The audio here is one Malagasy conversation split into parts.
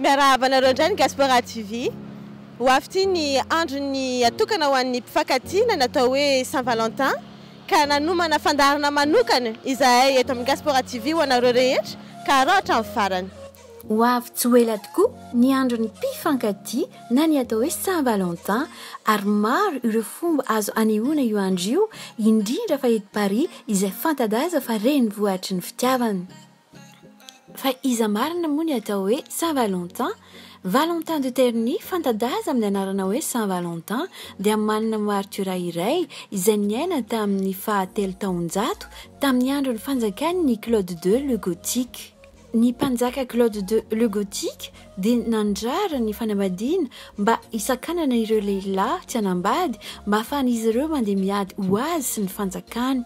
Miarahaba anareo indray ny Gaspora TV. Ho avy ity ny andron'ny atokana ho an'ny mpifankatia na ny atao hoe Saint Valentin ka nanomana fandaharana manokana izahay eto amin'ny Gaspora TV ho anareo rehetra ka araho hatramin'ny farany. Ho avy tsy ho ela tokoa ny andron'ny mpifankatia na ny atao hoe Saint Valentin ary maro ireo fomba azo anehoana io andro io indrindra fa eto Paris izay fanta-daza fa renivohitry ny fitiavana. Fa iza marina moa ny atao hoe Saint Valentin? Valentin de Terni, fanta-daza amin'ny anarana hoe Saint Valentin, dia manana martiora iray izay niaina tamin'ny faha telo taonjato tamin'ny andron'ny fanjakan'i Claude ii le Gothique. Ny mpanjaka Claude ii le Gothique, dia nandrara ny fanambadiana mba hisakanana ireo lehilahy tsy hanambady mba hahafahan'izy ireo mandeha miady ho azy sy ny fanjakany.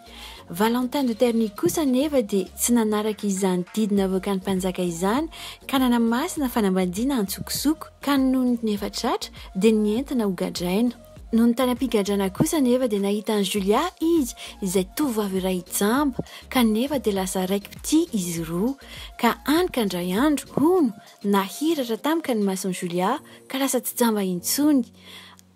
Valentin de Terni kosa anefa dia tsy nanaraka izany didy navoakan'ny mpanjaka izany ka nanamasina fanambadiana antsokosoko ka nony nefa tratra dia nientana ho gadraina. Nony tany am-pigadrana kosa anefa dia nahita an'i Julia izy izay tovovavy iray jamba, kanefa dia lasa raiki-pitia izy roa. Ka hany ka indray andro, hono, nahiratra tampoka ny mason'i Julia ka lasa tsy jamba intsony.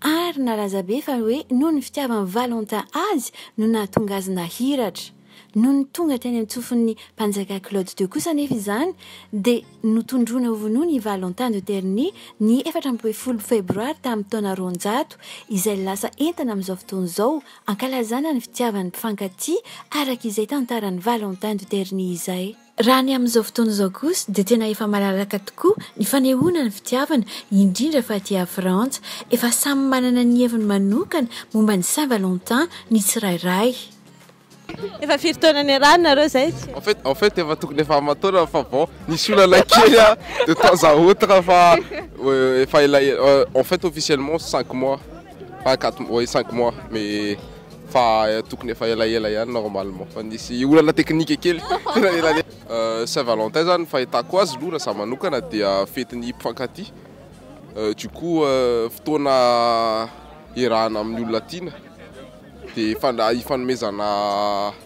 Ary nalaza be fa hoe noho ny fitiavan'i Valentin azy no nahatonga azy nahiratra. Nony tonga teny an-tsofin'ny mpanjaka Claude ii kosa anefa izany dia notondroina ho vonoina i Valentin de Terni ny efatra ambin'ny folo febroary tamin'ny taona roanjato, izay lasa entana amin'izao fotoana izao ankalazana ny fitiavan'ny mpifankatia araka izay tantaran'i Valentin de Terni izay. Raha ny amin'izao fotoana izao kosa dia tena efa malalaka tokoa ny fanehoana ny fitiavana, indrindra fa aty Frantsa. Efa samy manana ny heviny manokana momba ny Saint Valentin ny tsirairay. Efa firy taona niarahana nareo zay? En fait en fait efa tokony efa aman-taonany fa bon nisy olana kely a de temps à autre fa efa ela en fait officiellement cinq mois pas quatre mois oui cinq mois mais fa tokony efa elaela ihany normalement fa nisy olana teknika kely Saint Valentin zany fahitako azy aloha raha za manokana dia fetin'ny mpifankatia du coup fotoana iarahana amin'ny olona tiana dia ifanomezana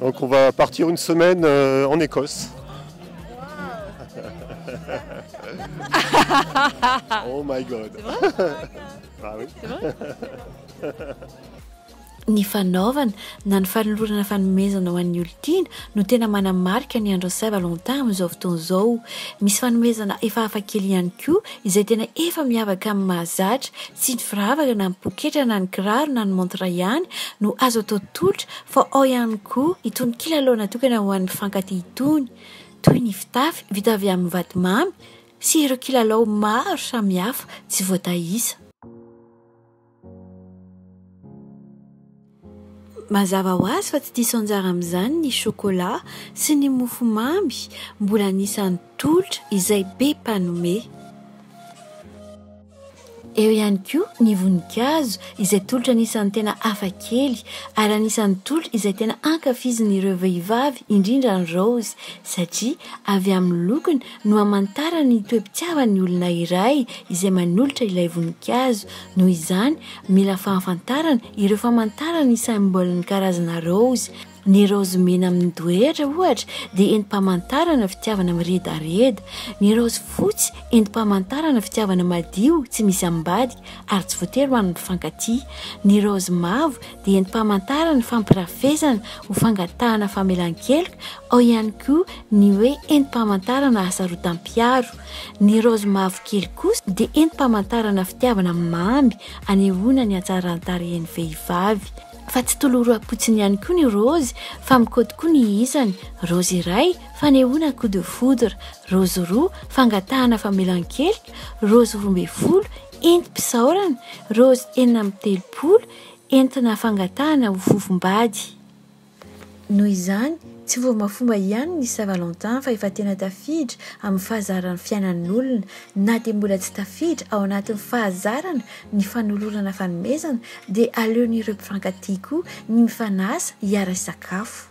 Donc on va partir une semaine euh, en Écosse. oh my god. ah oui. Ny fanaovana na ny fanolorana fanomezana ho an'ny olon-tiana no tena manamarika ny andron'ny Saint Valentin amin'izao fotoana izao. Misy fanomezana efa hafakely ihany koa izay tena efa miavaka amin'ny mahazatra, tsy ny firavaka na ny poketra na ny kiraro na ny montre ihany no azo atao tolotra fa ao ihany koa itony kilalao natokana ho an'ny mpifankatia itony toy ny fitafy vita avy amin'ny vatomamy sy ireo kilalao maro samihafa tsy voataisa. Mazava ho azy fa tsy diso anjara amin'izany ny sôkôlà sy ny mofomamy, mbola anisan'ny tolotra izay be mpanome. Eo ihany koa ny voninkazo izay tolotra anisan'ny tena hafa kely ary anisan'ny tolotra izay tena ankafizin'ireo vehivavy indrindra ny raozy satria avy amin'ny lokony no hamantarana ny toe-pitiavan'ny olona iray izay manolotra ilay voninkazo. Noho izany, mila fahafantarana ireo famantarana ny symbole-n'ny karazana raozy. Ny raozy mena amin'ny doetra, ohatra, dia entim-pamantarana fitiavana miredareda. Ny raozy fotsy, entim-pamantarana fitiavana madio, tsy misy ambadika, ary tsy voatery ho an'ny mpifankatia. Ny raozy mavo dia entim-pamantarana ny fampirafesana ho fangatahana famelan-keloka, ao ihany koa ny hoe entim-pamantarana hasarotam-piaro. Ny raozy mavokely kosa dia entim-pamantarana fitiavana mamy anehoana ny hatsaran-tarehin'ny vehivavy. Fa tsy toloram-potsiny ihany koa ny raozy fa mikody koa ny isany, raozy iray, fanehoana coup de foudre, raozy roa, fangatahana famelan-keloka, raozy roa ambin'ny folo, entim-pisaorana, raozy enina amby telopolo, entina fangatahana ho fofombady. Noho izany, tsy fombafomba ihany ny Saint Valentin fa efa tena tafiditra amin'ny fahazaran'ny fiainan'olona. Na dia mbola tsy tafiditra ao anatin'ny fahazarana ny fanolorana fanomezana dia aleon'ireo mpifankatia koa ny mifanasa hiara-hisakafo.